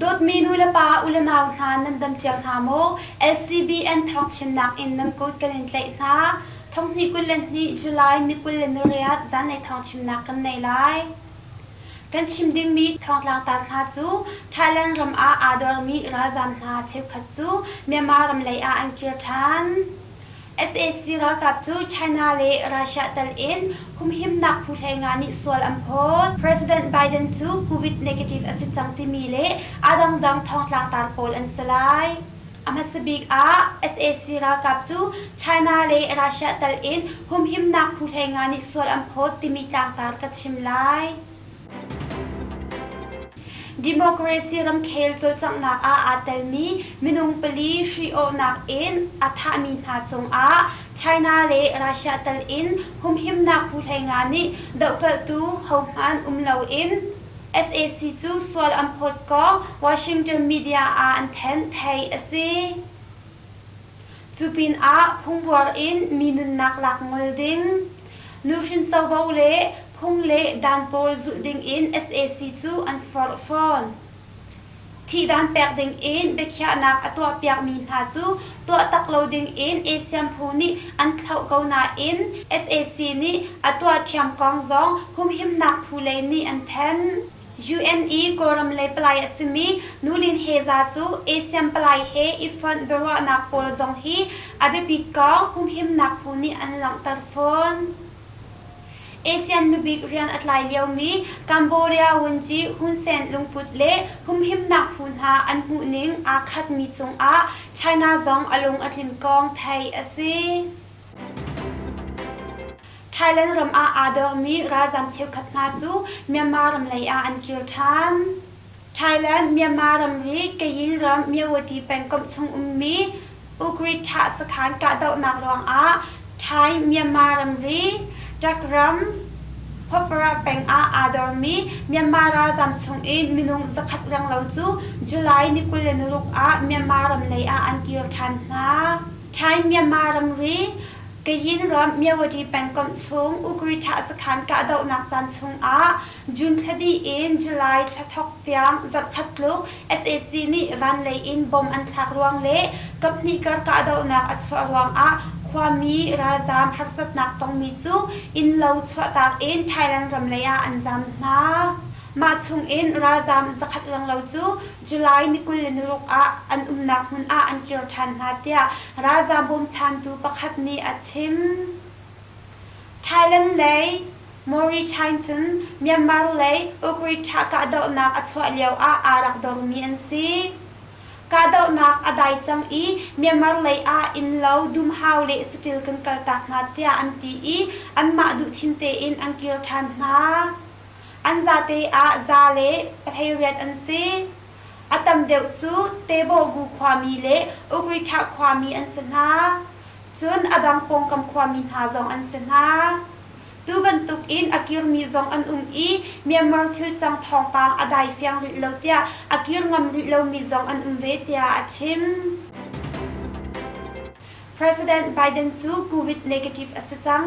Dawtmi nu le pa ulenau hna nan dam cia hna maw? SCBN thawngchimnak in nan kut kan in tlaih hna. Thonghni kul le hnih July ni kul le nariat zanlei thawngchimnak kan nei lai. Kan chim dingmi thawngtlang tar hna cu Thailand ram ah aa dormi ralzaam hna cheukhat cu Myanmar ram lei ah an kir ṭhan. sac ralkap cu China le Russia tal in humhimnak phu hleinga nih sual an phawt. President Biden cu Covid negative a si cang timi le a dangdang thawngtlang tar pawl an si lai. A hmasa bik ah sac ralkap cu China le Russia tal in humhimnak phu hleinga nih sual an phawt timi tlangtar ka chim lai. Democracy ramkhel cawlcanghnak ah aa telmi minung pali hri-awhnak in a thahmi hna cungah China le Russia tal in humhimnak phu hleinga nih dohkalhtu hohmanh um loin sac cu sual an phawt kong Washington media ah an thanh, theih a si. Cu pinah phungbuar in mi nunnak lak ngol ding, nuhrin covo le phung le dan pawl zulh dingin sac cu an forh fawn. Thihdan pek dingin biakhiahnak a tuahpiakmi hna cu tuahtak lo dingin ASEAN phu nih an thlauh ko nain sac nih a tuah ṭhiam kong zong humhimnak phu lei nih an thanh. UNE Kawlram lei palai a simi Nulin Heza cu ASEAN palai he i fonh biaruahnak pawl zong hi a biapit kong humhimnak phu nih an langhter fawn. ASEAN nubik rian a tlai liomi Cambodia Wunji Hun Sen lungput le humhimnak phu hna an hmuhning aa khatmi cungah China zong a lung a tlin kong theih a si. Thailand ram ah aa dormi ralzam cheukhat hna cu Myanmar ram lei ah an kir ṭhan. Thailand Myanmar ram hi Kayin ram Myawaddy pengkomh chung ummi Ugrittha sakhan kahdohnak ruangah Thai Myanmar ramri Dak ram Phopara peng ah aa dormi Myanmar ralzam chung i minung zakhat renglo cu July ni kul le naruk ah Myanmar ram lei ah an kir ṭhan hna. Thai Myanmar ramri Kayin ram Myawaddy pengkomh chung Ugrittha sakhan kahdohnak caan chungah June thla dih in July thla thawk tiang zarhkhat tluk sac nih van lei in bom an thlak ruang le kaphnih kar kahdohnak a chuah ruangah khuami ralzaam harsatnak tongmi cu innlo chuahtak in Thailand ram lei ah an zaam hna. Mah chungin ralzaam zakhat langlo cu July ni kul le naruk ah an umnak hmun ah an kir ṭhan hna tiah ralzaam bawmchantu pakhat nih a chim. Thailand lei Mauritine cun Myanmar lei Ukri thah kahdohnak a chuah lioah aa rak dormi an si. Kahdohnak a dai cang i Myanmar lei ah innlo, dumhau le saṭil kan kaltak hna tiah an ti i anmah duhthim tein an kir ṭhan hna. An zate ah za le pahleiriat an si. A tam deuh cu Tebawgu khuami le Ugriṭha khuami an si hna, cun a dang pawngkam khuami hna zong an si hna. Tu bantukin a kirmi zong an um i Myanmar thilcang thawngpang a dai fiang rih lo tiah a kir ngam rih lomi zong an um ve tiah a chim. President Biden cu COVID negative a si cang.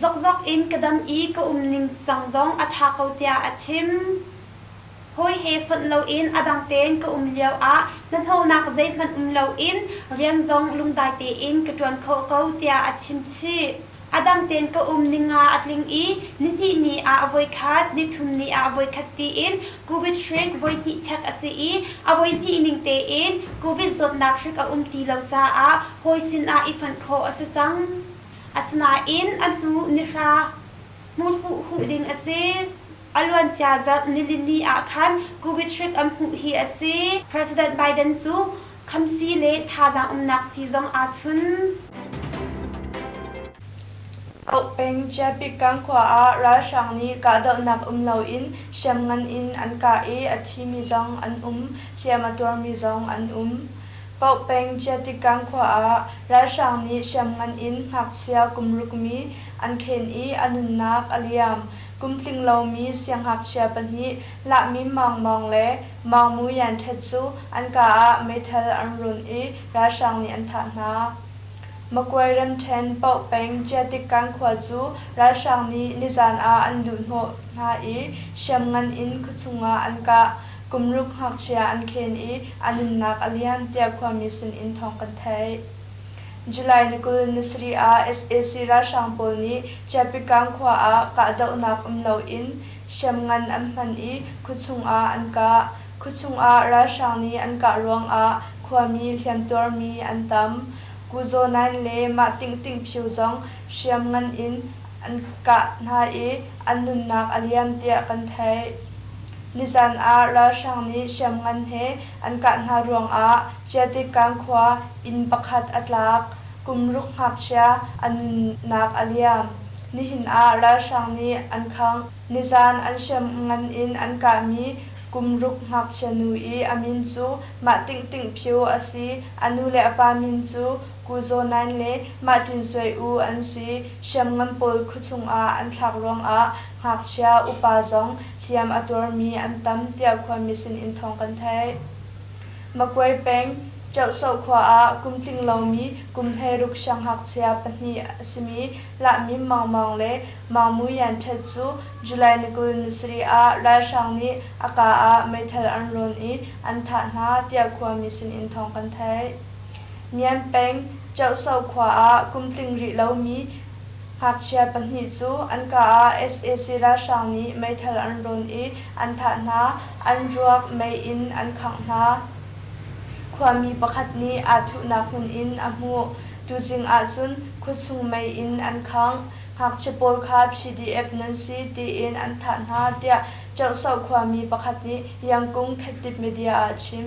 Zokzok in ka dam i ka um ningcang zong a ṭha ko tiah a chim. Hawi he fonh loin a dang tein ka um lioah hnahnawhnak zeihmanh um loin rian zong lungdai tein ka ṭuan khawh ko tiah a chim chih. A dang tein ka um ning nga a tling i nihnih ni ah a voikhat, nithum ni ah a voikhat tiin COVID hrik voihnih check a si i a voihnih ning tein COVID zawtnak hrik a um ti lo caah hawi sinah i fonh khawh a si cang. Asinain a hnu nihra hmurhuh huh ding a si. A luancia zarh nilini ah khan Covid hrik an hmuh hi a si. President Biden cu khamsi le thazaang umnak sii zong aa chun. Oak peng Chiapikkang khua ah ralhrang nih kahdohnak um loin hriam ngan in an kah i a thimi zong an um, hliam a tuarmi zong an um. Paoh peng Ciatikang khua ah ralhrang nih hriamngan in ngakchia kum rukmi an khen i a nunnak a liam. Kum tling lomi siangngakchia pahnih Lahmim Maung Maung le Maung Mu Yan Htet cu an kaa ah meithal an run i ralhrang nih an thah hna. Makwe Ramṭhen Paoh peng Ciatikang khua cu ralhrang nih nizan ah an luhhnawh hna i hriamngan in khuachung ah an kah. Kumruk ngakchia an khen i a nunnak a lian tiah khuami sinin thawng kan theih. July ni kul ni sarih ah sac ralhrang pawl nih Chiappikang khua ah kahdohnak um loin hriamngan an hman i khua chungah an kah. Khua chungah ralhrang nih an kah ruangah khuami hliamtuarmi an tam. Kuzaw Nain le Mah Ting Ting Phyu zong hriamngan in an kah hna i an nunnak a liam tiah kan theih. Nizan ah ralhrang nih hriamngan he an kah hna ruangah Chiatikang khua inn pakhat a tlak. Kum ruk ngakchia a nunnak a liam. Nihin ah ralhrang nih an khang. Nizan an hriamngan in an kahmi kum ruk ngakchia nu i a min cu Mah Ting Ting Phyu a si. A nu le a pa min cu Kuzaw Nain le Mahtin Soe U an si. Hriamngan pawl khuachung ah an thlak ruangah ngakchia upa zong hliam a tuarmi an tam tiah khuami sinin thawng kan theih. Makwe peng Cheuhsoh khua ah kum tling lomi kum hleiruk sianghngakchia pahnih a simi Lahmim Maung Maung le Maung Mui Yan Htet cu July ni kul ni sarih ah ralhrang nih a kaa ah meithal an rawn i an thah hna tiah khuami sinin thawng kan theih. Mian peng Ṭeuhso khua ah kum tling rih lomi ngakchia pahnih cu an ka ah sac ralhrang nih meithal an rawn i an thah hna, an ruak mei in an khangh hna. Khuami pakhat nih aa thuhnak hmun in a hmuh, tuzing ahcun khuachung mei in an khangh. Ngakchia pawl kha PDF nan si tiin an thah hna, tiah Ṭeuhso khuami pakhat nih Yangkung Khattip Media ah a chim.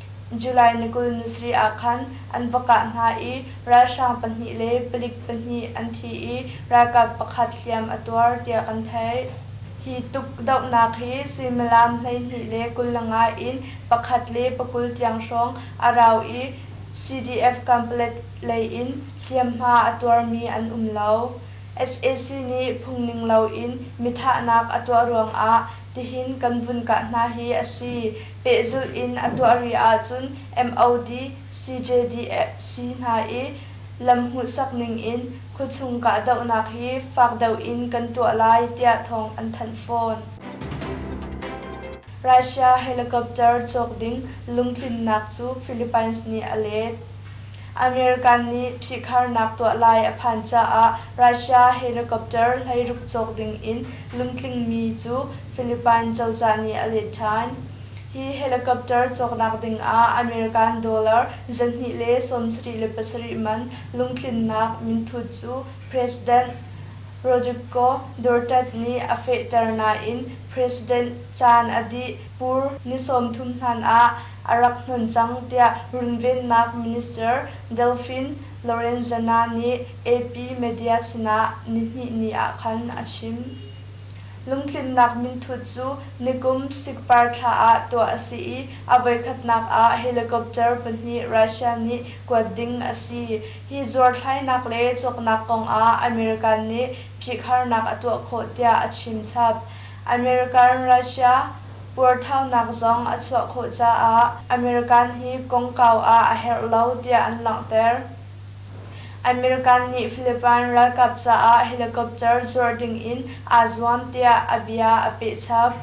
July ni kul nusarih ah khan an va kah hna i ralhrang pahnih le palik pahnih an thi i ralkap pakhat hliam a tuar tiah kan theih. Hi tuk dohnak hi suimilam hleihnih le kul langa in pakhat le pakul tiang hrawng a rau i CDF Camplet lei in hliamhma a tuarmi an um lo. sac nih phungning loin mithahnak a tuah ruangah Tihin kan vun kah hna hi a si. Pehzulh in a tuah rih ahcun MOD, CJDC hna i lam hmuhsak ningin khuachung kahdohnak hi fak deuh in kan tuah lai tiah thawng an thanh fawn. Russia helicopter cawk ding lungtlinnak cu Philippines nih a let. American nih phihkharnak tuah lai a phan caah Russia helicopter hleiruk cawk ding in lungtlingmi cu Philippine cozah nih a let ṭhan. Hi helicopter cawknak ding ah American dollar zahnih le sawmsarih le pasarih man lungtlinnak minthut cu President Rodrigo Duterte nih a fehter nain President caan a dih Pur ni sawmthum hnan ah a rak hnon cang tiah runvennak minister Delfin Lorenzana nih AP media sinah nihnih ni ah khan a chim. Lungtlinnak minthut cu nikum Sikpar thla ah tuah a si i a voikhatnak ah helicopter pahnih Russia nih kuat ding a si. Hi zuarthlainak le cawknak kongah American nih phihkharnak a tuah khawh tiah a chim chap. American Russia puarthaunak zong a chuah khawh caah American hi kongkau ah a herh lo tiah an langhter. American nih Philippine ralkap caah helicopter zuarh dingin aa zuam tiah a bia a pehchap.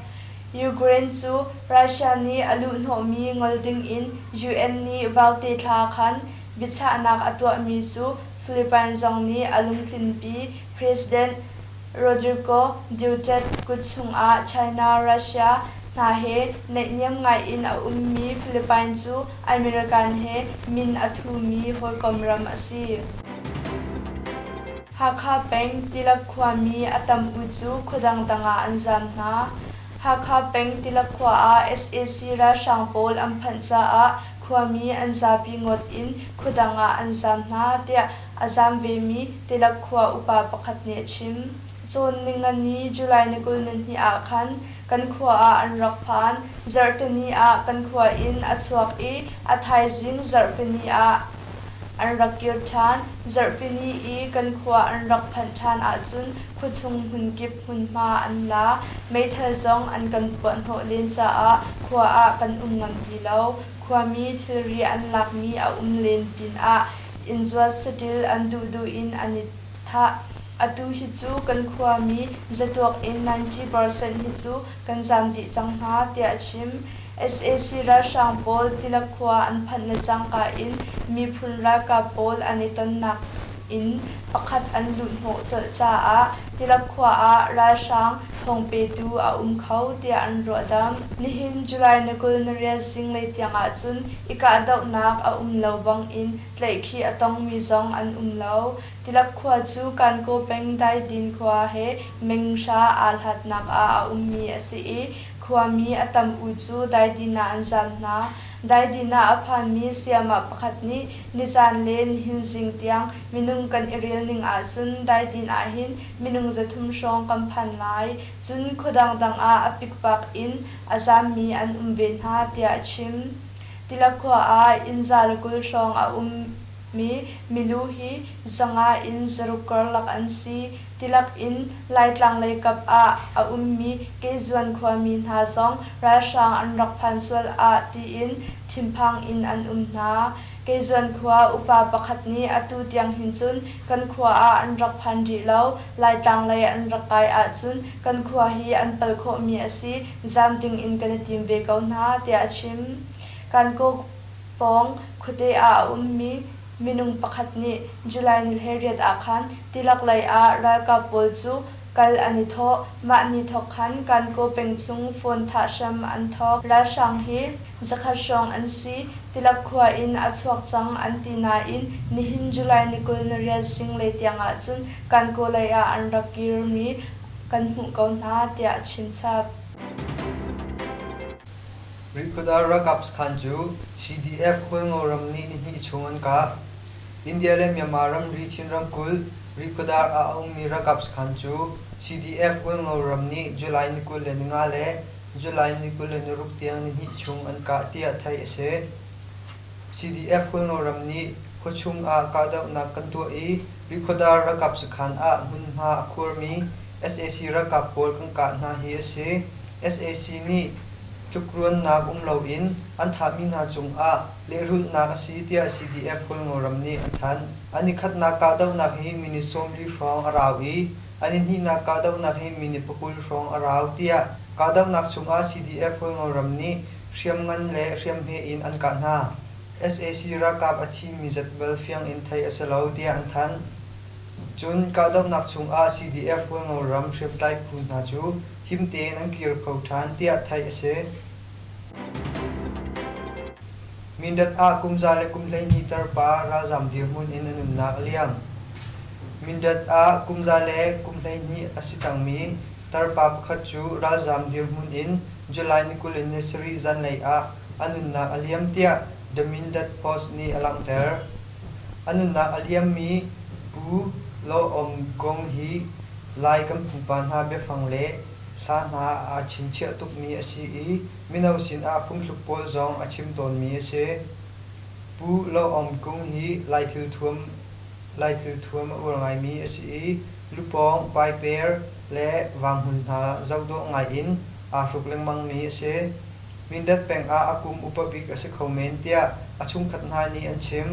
Ukraine cu Russia nih a luhhnawhmi ngol dingin UN nih vaute thla khan biachahnak a tuahmi cu Philippine zong nih a lungtlinpi, President Rodrigo Duterte kut chungah China, Russia hna he naihniam ngaiin a ummi Philippine cu American he min a thumi hawikom ram a si. Hakha peng Tilak khuami a tam u cu khuadang tangah an zam hna. Hakha peng Tilak khua ah sac ralhrang pawl an phanh caah khuami an zapi ngawt in khuadang ah an zam hna tiah A zaam vemi Tilak khua upa pakhat nih a chim. Cawn Ningani July ni kul nihnih ah khan kan khua ah an rak phan. Zarhteni ah kan khua in a chuak i a thaizing zarhpini ah an rak kir ṭhan. Zarhpini i kan khua an rak phanh ṭhan ahcun khuachung hmunkip hmunhma an la. Meithal zong an kan puahhnawh len caah khua ah kan um ngam ti lo. Khuami thilri an lakmi a um len pinah innzuat saṭil an duhduh in an i thah. Atu hi cu kan khuami zatuak in ninety percent hi cu kan zaam dih cang hna, tiah a chim. Sac ralhrang pawl Tilak khua an phanhnak cangka in miphun ralkap pawl an i tonnak in pakhat an luhhnawh colh caah Tilam khua ah ralhrang thawng petu a um kho tiah an ruahdamh. Nihin July ni kul ni rial zinglei tiang ahcun i kahdohnak a um lo bangin tlaihkhih a tongmi zong an um lo. Tilap khua cu Kankaw peng Daidin khua he meng hra aa hlatnak ah a ummi a si i, khuami a tam u cu Daidin ah an zam hna. Daidinah a phanmi sayamah pakhat nih nizan le nihin zing tiang minung kan i rel ning ahcun daidin ahhin minung zathum hrawng kan phan lai. Cun khua dangdang ah a pikpak in a zaammi an um ve hna tiah a chim. Tilakhua ah innza le kul hrawng a ummi milu hi zanga in zaruk karlak an si. Tilak in Laitlang lei kap ah a ummi Kezuan khuami hna zong ralhrang an rak phan sual ah tiin thinphang in an um hna. Kezuan khua upa pakhat nih atu tiang hin cun kan khua ah an rak phan rih lo, Laitlang lei an rak kai ahcun kan khua hi an pal khawhmi a si, zam ding in kan i tim ve ko hna tiah a chim. Kankaw pawng khuate ah a ummi Minung pakhat nih July ni hlei riat ah khan tilak lei ah ralkap pawl cu kal an i thawh. Mah ni thawk khan Kankaw peng chung phone thah hram an thawk. Ralhrang hi zakhat hrawng an si. Tilak khua in a chuak cang an ti nain nihin July ni kul na riat zinglei tiang ahcun Kankaw lei ah an rak kirmi kan hmuh ko hna tiah a chimchap. Minkhut ah ralkap sakhan cu CDF Kawlngo ram ni nihnih chung an kah. India le Myanmar ramri Chin ramkulh Rihkhawdar ah a ummi ralkap sakhan cu CDF Kawlngo ram nih July ni kul le ninga le July ni kul le niruk tiang nihnih chung an kah tiah theih a si. CDF khualnawl ram nih khuachung ah kahdohnak kan tuah i Rikhuadar ralkap sakhan ah hmunhma a khuarmi sac ralkap pawl kan kah hna hi a si. sac nih tlukruannak um loin an thahmi hna cungah lehrulhnak a si tiah CDF khualnawl ram nih a thanh. An i khatnak kahdohnak hi minute sawmli hrawng a rau i an i hnihnak kahdohnak hi minute pakul hrawng a rau tiah kahdohnak chungah CDF khualnawl ram nih Hriam ngan le hriam hme in an kah hna. sac ralkap a thimi zatbel fiang in theih a si lo tiah an thanh. Cun kahdohnak chungah CDF rualngo ram hriamtlai phu hna cu him tein an kir kho ṭhan tiah theih a si. Mindat ah kum za le kum hleihnih tarpa ralzaam dirhmun in an umnak a liam. Mindat ah kum za le kum hleihnih a si cangmi Tarpa pakhat cu ralzaam dirhmun in July ni kul in ni sarih zanlei ah a nunnak a liam tiah The Mindat Post nih a langhter. A nunnak a liammi Pu Law Aung Gong hi Lai kan pupa hna biafang le hla hna aa chinchiah tukmi a si i mino sinah phungthluk pawl zong a chim tawnmi a si. Pu Law Aung Kung hi Lai thil thuam a uar ngaimi a si i Lupawng, paiper le vanghmun hna zoh dawh ngai in aa hruk lengmangmi a si. Mindat peng ah a kum upa bik a si kho men tiah a chungkhat hna nih an chim.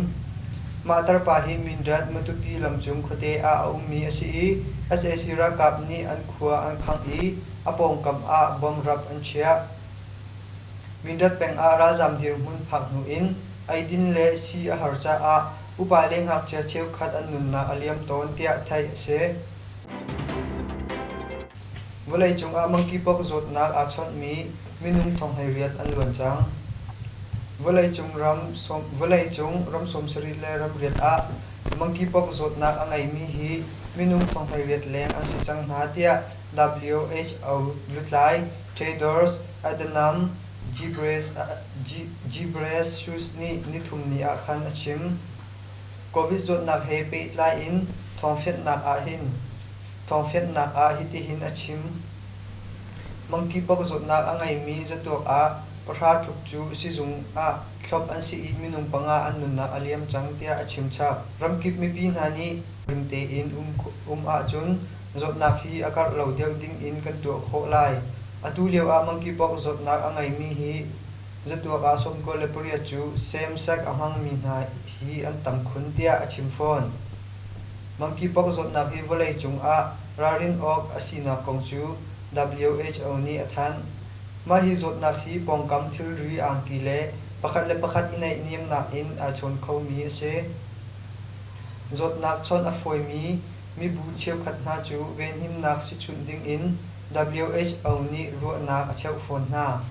Mah tarpa hi Mindat Matupi lamcung khuate ah a ummi a si i sac ralkap nih an khua an khangh i a pawngkam ah bomb rap an chiah. Mindat peng ah ralzaam dirhmun phak hnu in eidin le sii a har caah Upa le ngakchia cheukhat an nunnak a liam tawn tiah theih a si. Vawleicung ah monkeypox zawtnak aa chawnhmi minung thonghleiriat an luan cang. Vawleicung ram, vawleicung ram sawmsarih le ramriat ah monkeypox zawtnak a ngeimi hi minung thonghleiriat leng an si cang hna tiah WHO lutlai, traders, Adnam Ghebreyesus nih nithumni ah khan a chim. Covid zawtnak he pehtlai in thawngfianhnak ah hin thawngfianhnak ah hitihin a chim: Monkeypox zawtnak a ngeimi zatuak ah pahra tluk cu sizung ah thlop an si i minung panga an nunnak a liam cang tiah a chimchap. Ramkip mipi hna nih ring tein um ahcun Zawtnak hi a karh lo deuh dingin kan tuah khawh lai. Atu lioah monkeypox zawtnak a ngeimi hi zatuak ah sawm kul le pariat cu semsek a hmangmi hna hi an tam khun tiah a chim fawn. Monkeypox zawtnak hi vawlei cungah ralrin awk a sinak kong cu WHO nih a thanh. Mah hi zawtnak hi pawngkam thilri angki le pakhat le pakhat i neih niamnak in aa chawn khomi a si. Zawtnak chawnh a fawimi Mibu cheukhat hna cu venhimnak sichunh dingin WHO nih ruahnak a cheuh fawn hna.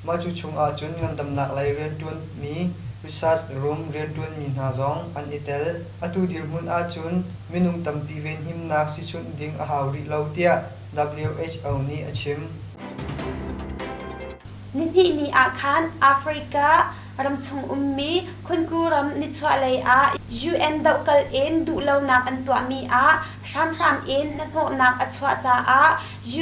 Mah cu chungah cun ngandamnak lei rianṭuanmi research room rianṭuanmi hna zong an i tel. Atu dirhmun ahcun minung tampi venhimnak sichunh ding a hau rih lo tiah WHO nih a chim. Nihnih ni ah khan Africa, Ramchung ummi Khunku ram nichuahlei ah UN dohkalh in duhlonak an tuahmi ah hramhram in hnahnawhnak a chuah caah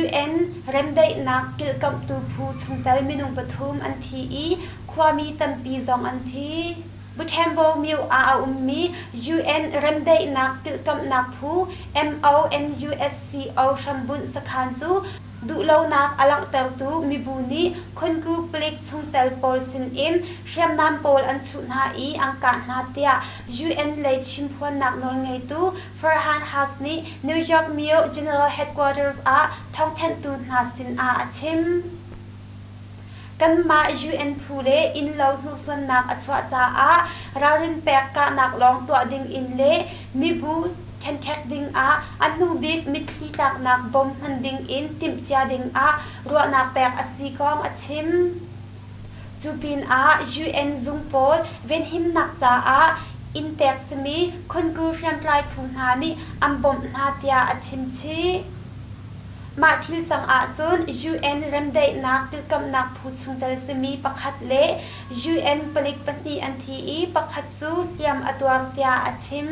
UN remdaihnak kilkamhtu phu chungtel minung pathum an thi i khuami tampi zong an thi. Butembo Myo ah a ummi UN remdaihnak kilkamhnak phu MONUSCO hrambunh sakhan cu duhlonak a langhtertu mibu nih khonku palik chungtel pawl sinin hriamnam pawl an chuh hna i an kah hna tiah UN lei chimphuannak nawlngeitu Farhan Haq nih New York myo general headquarters ah thawngthanhtu hna sinah a chim. Kanmah UN phu le innlo hnursuannak a chuah caah ralrin pek kahnak lawng tuah ding in le mibu ṭhenṭhek dingah a hnubik mitthli tlaknak bom hman ding in timhcia dingah ruahnak pek a si kong a chim. Cu pinah UN zung pawl venhimnak caah inn tek simi Khongur hriamtlai phu hna nih an bawmh hna tiah a chimchih. Mah thil cang ahcun UN remdaihnak tilkamhnak phu chungtel simi pakhat le UN palik pahnih an thi i pakhat cu hliam a tuar tiah a chim.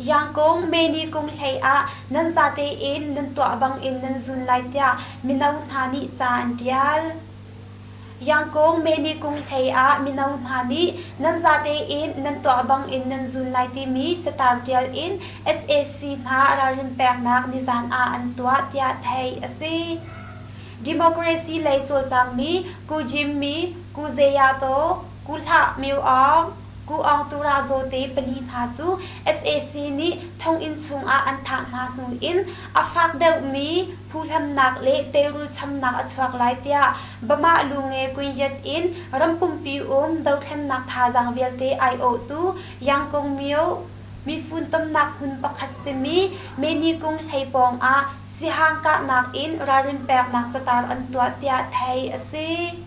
Yangkung Meni kum hlei ah nan zate in nan tuah bangin nan zun lai tiah mino hna nih ca an ṭial. Yangkung Meni kung hlei ah mino hna nih nan zate in nan tuah bangin nan zul lai timi catar ṭial in sac hna ralrin peknak nizan ah an tuah tiah theih a si. Democracy lei cawlcangmi Ku Jim Mi, Ku Zeyato, Ku hlah Myo-aung, Ku Aung Tura Zawte pali hna cu sac nih thonginn chungah an thah hna hnu in a fak deuhmi phuhlamnak le teirul chamnak a chuak lai tiah Bamah Lunge Kunyet in rampumpi um dothlennak thazaang vialte aiawhtu Yangkung Myo mifuntomnak hmun pakhat simi Menikung hlei pawngah sihang kahnak in ralrin peknak catar an tuah tiah theih a si.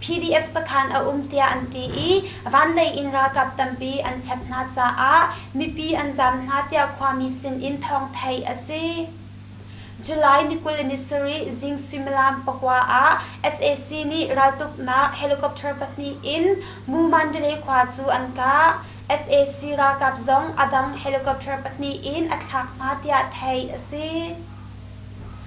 PDF sakhan a um tiah an ti i vanlei in ralkap tampi an chep hna caah mipi an zam hna tiah khuami sinin thawng theih a si. July ni kul ni sarih zing suimilam pakua ah sac nih raltuknak helicopter pahnih in Mu Mandalay khua cu an kah. sac ralkap zong a dang helicopter pahnih in a thlak hna tiah theih a si.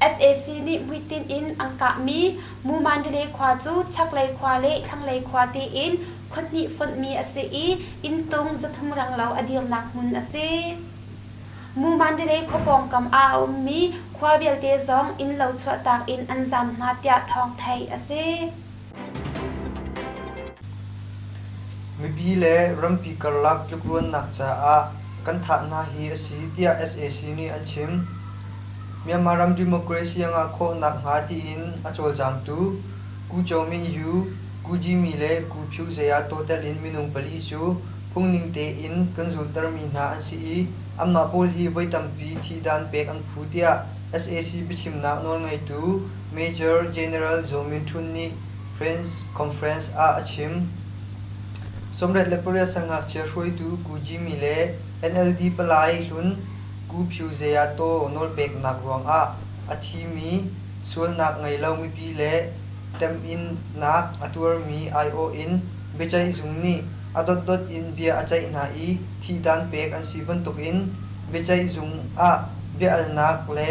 sac nih buitin in an kahmi mumandile khua cu chaklei khua le thlanglei khua tein khonhnih fonhmi a si i inntung zathum ranglo a dirnak hmun a si mumandile khua pawngkam ah a ummi khua vialte zong innlo chuahtak in an zam hna tiah thawng theih a si Mipi le rampi karlak tlukruannak caah kan thah hna hi a si tiah sac nih an chim. Myanmar ram democracy a ngah khawh nakhnga tiin a cawlcangtu Gu Kyomingyu, Gu Jimi le Gu Phyu Zeyato telin minung pali cu phungning tein kan zultermi hna an si i anmah pawl hi voi tampi thi dan pek an phu tiah sac biachimnak nawlngeitu Major General Joe Minthun nih press conference ah a chim. Sawmret le pariat sang ngakchia hruaitu Gu Jimmy le NLD palai hlun Gu Pyu Zeyato nawlpeknak ruangah a thimi sualnak ngei lo mipi le temhinnak a tuarmi aiawh in Biaceih zung nih a dotdot in bia a ceih hna i thihdan pek an si bantukin biaceih zung ah biahalnak le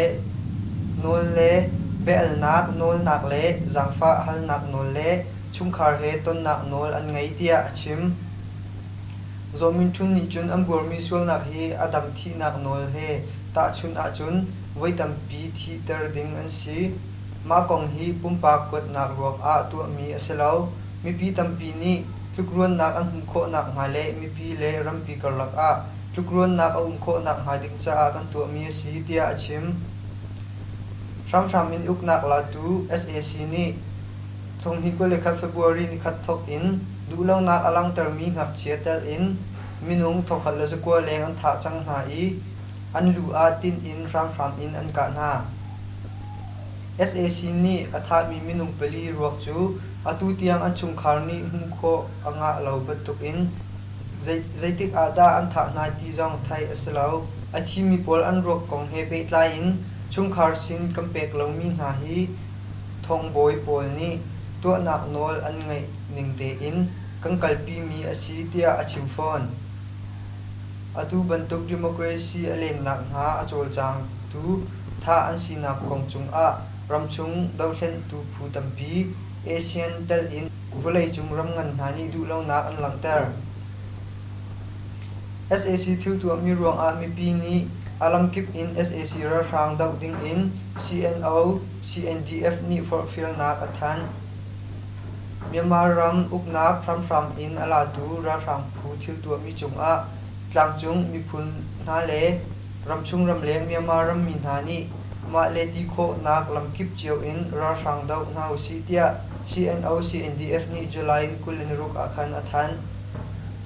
biahalnak nawlnak le zaangfah halnak nawl le chungkhar he tonnak nawl an ngei tiah a chim. Zaw Min Htun nih cun an buarmi sualnak hi a dang thihnak nawl he tahchunh ahcun voi tampi thihter ding an si. Mah kong hi pumpak kuatnak ruangah tuahmi a si lo. Mipi tampi nih tlukruannak an um khawh nakhnga le mipi le rampi karlak ah tlukruannak a um khawh nakhnga ding caah kan tuahmi a si tiah a chim. Hramhram in uknak latu sac nih thonghni kul le khat February ni khat thawk in duhlonak a langhtermi ngakchia telh in minung thawkhat le zakua leng an thah cang hna i an lu ah tinh in hramhram in an kah hna. sac nih a thahmi minung pali ruak cu atu tiang an chungkhar nih hmuh khawh a ngah lo bantukin zeitik ah dah an thah hna ti zong theih a si lo. A thimi pawl an ruak kong he pehtlai in chungkhar sin kan pek lomi hna hi thawngbawi pawl nih tuahnak nawl an ngeih ning tein kan kalpimi a si tiah a chim fawn. Atu bantuk democracy a lennak hna a cawlcangtu tha an sinak kong cungah ramchung dohhlenhtu phu tampi ASEAN telh in vawleicung ram ngan hna nih duhlonak an langhter. sac thil tuahmi ruangah mipi nih a lamkip in sac ralhrang doh dingin CNO CNDF nih forhfialnak a thanh. Myanmar ram uknak hramhram in a latu ralhrang phu thil tuahmi cungah tlangcung miphun hna le ramchung ramleng Myanmar rammi hna nih mah le ti khawhnak lamkip cio in ralhrang doh hna usih tiah CNO CNDF nih July in kul in ruk ah khan a thanh.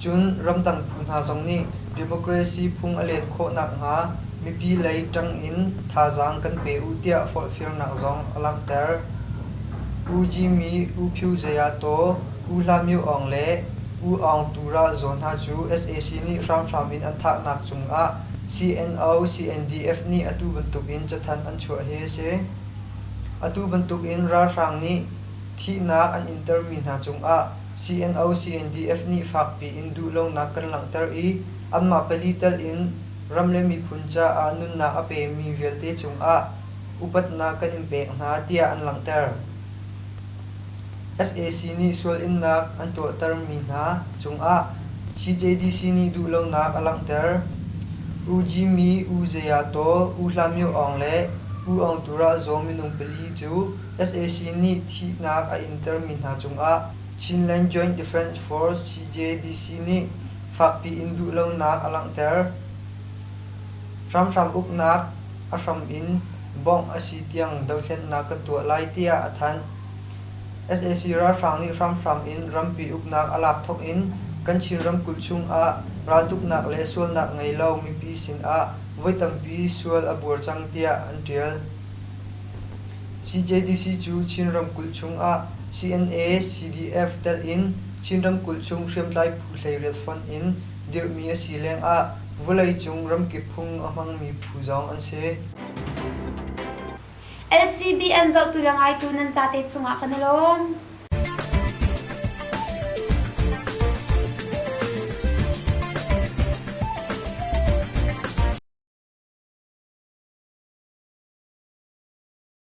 Cun ramdang phu hna zong nih democracy phung a len khawh nakhnga mipi lei ṭang in thazaang kan pe u tiah forhfialnak zong a langhter. U Jimmy, U Phu Zeyato, U Hla Myo Aung le U Aung Tu ral zawn hna cu sac nih hramhram in an thahnak cungah CNO CNDF nih atu bantukin cathanh an chuah hi a si. Atu bantukin ralhrang nih thihnak an intermi hna cungah CNO-CNDF nih fakpi in duhlonak kan langhter i anmah pali tal in ram le miphun caah nunnak a pemi vialte cungah upatnak kan in pek hna tiah an langhter. SAC nih sual innak an tuahtermi hna cungah CJDC nih duhlonak a langhter. U Jimmy, U Zeyato, U Hlamyo Aung le U Aung Tura zaw minung pali cu sac nih thihnak a intermi hna cungah Chinland Joint Defence Force CJDC nih fakpi in duhlonak a langhter. Hramhram uknak a hram in bawmh a si tiang dohthlennak kan tuah lai tiah a thanh. sac ralhrang nih hramhram in rampi uknak a lak thawk in kan Chin ramkulh chungah raltuknak le sualnak ngei lo mipi sinah voi tampi sual a buar cang tiah an ṭial. CJDC cu Chin ramkulh chungah CNA-CDF telh in Chin ramkulh chung hriamtlai phu hleiriat fonh in dirhmi a si lengah vawleicung ramkip phung a hmangmi phu zong an si. LCBN zohtu le ngaitu nan zate cungah kan i lawm.